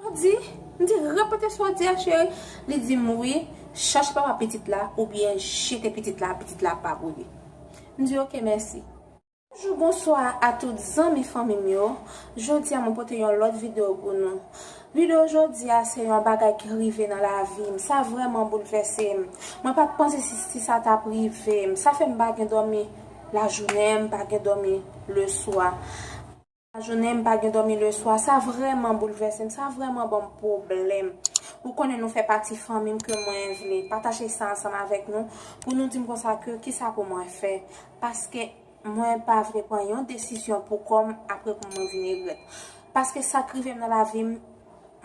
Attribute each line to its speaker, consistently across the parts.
Speaker 1: Ou di? M di, repete sa w di a cheri. Li di m wi, chache papa pitit la oubyen jete pitit la, pitit la pa pou li. M di ok mèsi. Bonjou bonswa a tout zanmi fanmi m yo, jodi a mwen pote yon lòt video pou nou. Video jodi a se yon bagay ki rive nan lavi m, sa vrèman boulvèse m. Mwen pat panse si sa tap rive m, sa fè m pa gen dòmi lajounen, m pa gen dòmi leswa, lajounen, m pa gen dòmi leswa, sa vrèman boulvèse m, sa vrèman ban m pwoblèm. Ou konnen nou fè pati fanmi m ke mwen vle pataje sa ansanm avèk nou pou nou di m konsa ke kisa pou mwen fè paske Mwen pa vle pran yon desizyon pou kò m apre pou mwen vin regrèt. Paske sa k rive m nan lavi m,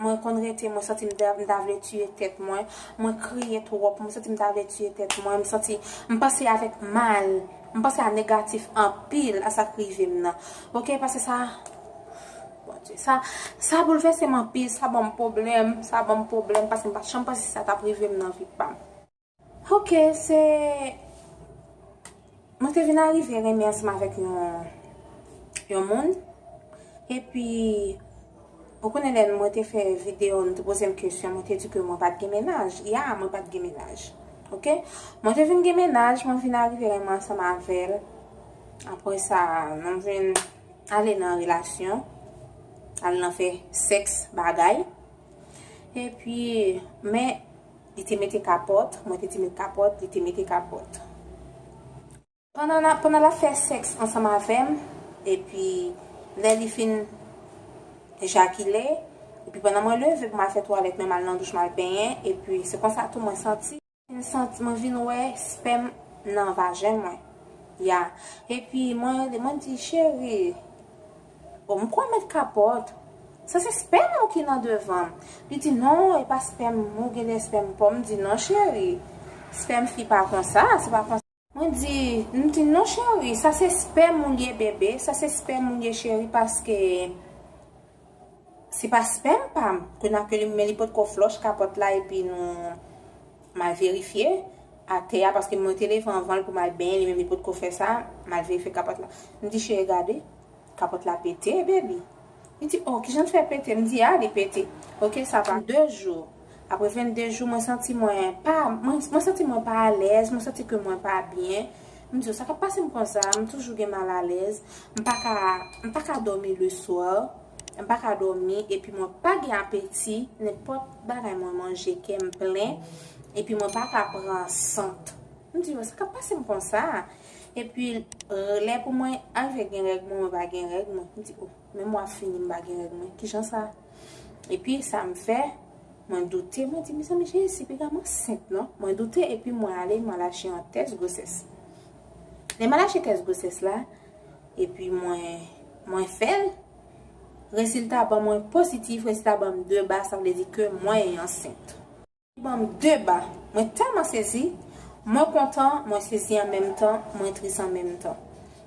Speaker 1: mwen konn rete mwen santi m ta m ta vle tiye tèt mwen, mwen kriye twòp, mwen santi m ta vle tiye tèt mwen, m santi m panse avèk mal, m panse a negatif anpil a sa k rive m nan. Ok paske sa Bondye sa sa boulvèse m anpil, sa ban m pwoblèm, sa ban m pwoblèm paske m pa t janm panse sa t ap rive m nan vi pa m. Ok se Mwen te vin arive renmen ansanm avèk yon yon moun epi ou konnen lè mwen te fè video nou te poze m kesyon mwen te di ke mwen pat gen mennaj ya mwen pat gen mennaj ok mwen te vin gen mennaj mwen vin arive renmen ansanm avèl aprè sa nou vin ale nan relasyon al nan fè sèks bagay epi men Li te mete kapòt, mwen te te met kapòt, li te mete kapòt. Pandan n ap, pandan l ap fè sèks ansanm avè m, epi lè li fin ejakile, epi pandan mwen leve pou m al fè twalèt men m al nan douch m al benyen, epi se konsa tou mwen santi, m santi, mwen vin wè spèm nan vajen mwen, ya, epi mwen rele, mwen di, cheri. Bon m kwè mèt kapòt. Sa se spèm ou ki nan devan m. Li di non e pa spèm m ou genlè spèm pò m di non cheri spèm fi pa konsa se pa konsa. Mwen di m di non cheri sa se spèm ou l ye bebe sa se spèm ou l ye cheri paske se pa spèm pa m ke nan ke li men li potko flòch kapòt la epi nou m al verifye atè a paske mwen te leve anvan l pou m al benyen li menm li potko fè sa m al verifye kapòt la m di cheri gade. Kapòt la pete baby. Li di oh kijan l fè pete m di ah li pete ok sa pa. 2 jou Apre 22 jou mwen santi mwen pa mwen santi mwen pa alèz mwen santi ke mwen pa byen m di yo sa kap pase m konsa m toujou gen malalèz m pa ka m pa ka dòmi le soir m pa ka dòmi epi mwen pa gen apeti nenpòt bagay mwen manje kè m plen epi mwen pa ka pran sant m di yo sa kap pase m konsa. Epi lè pou mwen aje gen règ mwen, mwen pa gen règ mwen. M di o, men mwa fini m pa gen règ mwen. Ki jan sa? Epi sa m fè, mwen doute, mwen di mezanmi Jezi piga m ansent non. Mwen doute epi mwen ale mwen al achte yon tès gwosès. Lè m al achte tès gwosès la, epi mwen fè l, resilta ban mwen positif, resilta ban m 2 ba, sa vle di ke mwen ansent. Banm de ba. Mwen tèlman sezi. Mwen kontan, mwen sezi an menm tan, mwen tris an menm tan.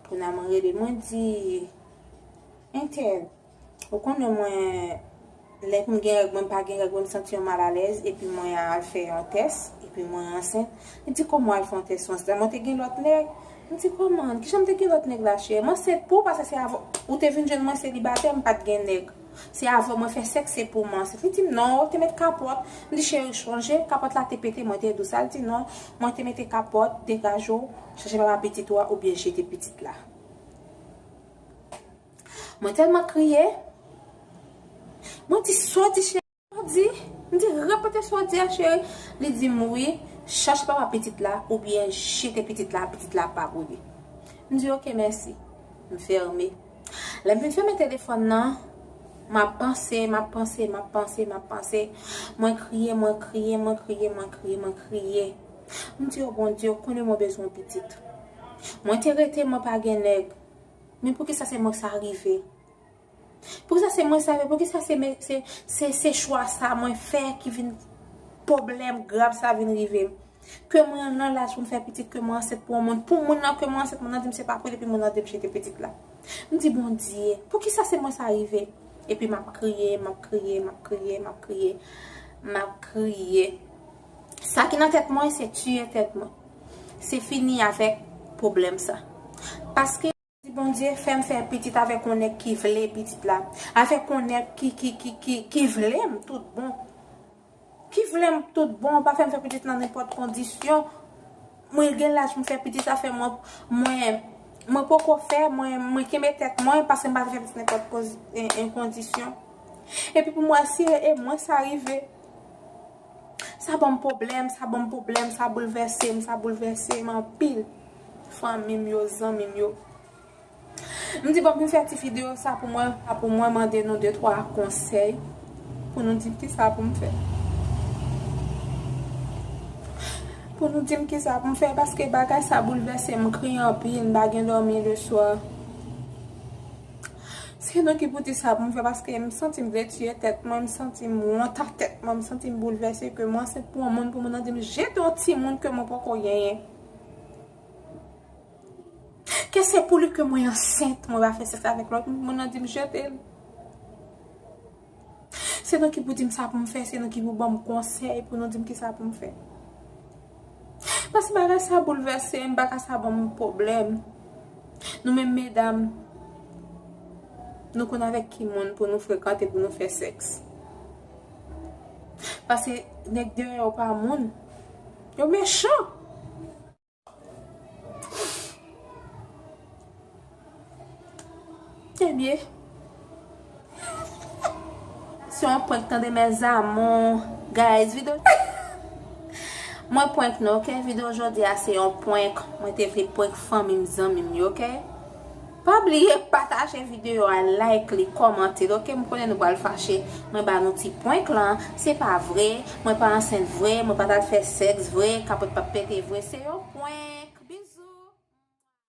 Speaker 1: Kounya mwen rele mwen di Entèl, ou konnen mwen lè pou m gen règ mwen m pa gen règ mwen m santi yon malalèz epi mwen al fè yon tès epi mwen ansent. Li di kòman w al fè yon tès ou ansent la mwen te gen lòt nèg. M di kòman, kijan m te gen lòt nèg la cheri? M ansent pou ou paske se avè w ou te vin jwenn mwen selibatè m pat gen nèg. Se avèw mwen fè sèks se pou manse. Li dim non, ou te met kapòt. M di cheri ou chonje, kapòt la te pete mwen te dou sa. Li di non, mwen te mete kapòt, degaje w, chache papa pitit ou a oubyen jete pitit la. Mwen tèlman kriye. Mwen di sa w di cheri. Ou di? M di, repete sa w di a cheri. Li di m, wi, chache papa pitit la oubyen jete pitit la, pitit la pa pou li. M di, ok, mèsi. M fèmen. Lè m fin fèmen telefòn nan, m ap panse, m ap panse, m ap panse, m ap panse. Mwen kriye, mwen kriye, mwen kriye, mwen kriye, mwen kriye. M di, o Bondye, ou konnen mwen bezwen yon pitit. Mwen te rete mwen pa gen nèg. Men poukisa se mwen sa rive? Pou kisa se mwen sa vre pou kisa se men se se chwa sa mwen fè ki vin poblèm grav sa vin rive m ke mwen nan laj pou m fè pitit ke mwen ansent pou yon moun pou moun nan ke mwen ansent moun nan di m se pa pou li epi moun nan di m jete pitit la m di bondye pou kisa se mwen sa rive epi m ap kriye m ap kriye m ap kriye m ap kriye m ap kriye sa ki nan tèt mwen se tiye tèt mwen se fini avèk poblèm sa paske. Di Bondye fèm fè pitit avèk yon nèg ki vle pitit la, avèk yon nèg ki ki ki ki ki vlem tout bon ki vlem tout bon pa fèm fè pitit nan nenpòt kondisyon mwen gen laj pou m fè pitit sa fè mwen mwen mwen poko fè mwen mwen kenbe tèt mwen paske m pa vle fè pitit nan nenpòt koz en kondisyon epi pou m wè si e mwen sa rive. Sa banm pwoblèm, sa banm pwoblèm, sa boulvèse m, sa boulvèse m anpil. Fanmi m yo, zanmi m yo. M di fòk m fè ti videyo sa pou mwen, pou mwen mande nou de twa konsèy pou nou di m ki sa pou m fè. Pou nou di m ki sa pou m fè paske bagay sa boulvèse m, m kriye anpil, m pa gen dòmi le swa. Se nan ki bouti sa pou m fè paske m santi m vle tiye tèt mwen, m santi m wont a tèt mwen, m santi m boulvèse ke m ansent pou yon moun pou moun nan di m jete yon timoun ke mwen poko genyen. Ke se pou li ke mwen ansent, mwen pa fè sèks avèk lòt moun pou moun nan di m jete l. Se nou ki pou di m sa pou m fè, se nou ki pou ban m konsèy pou nou di m ki sa pou m fè. Paske bagay sa boulvèse m, bagay sa ban m pwoblèm. Nou menm medam, nou konn avèk ki moun pou nou frekante, pou nou fè sèks. Paske nèg deyò yo pa moun, yo mechan. Ebyen Se yon prank tande mes amours Guys video Mwen prank nou ok Video jodi a se yon prank Mwen te vle prank fanmim zanmim yo ok. Pa bliye pataje video a like li kòmantel ok m konnen nou pral fache mwen ba nou ti prank lan se pa vre mwen pa ansent vre mwen pa tal fè sex vre kapòt pap pete vre se yon prank bisous.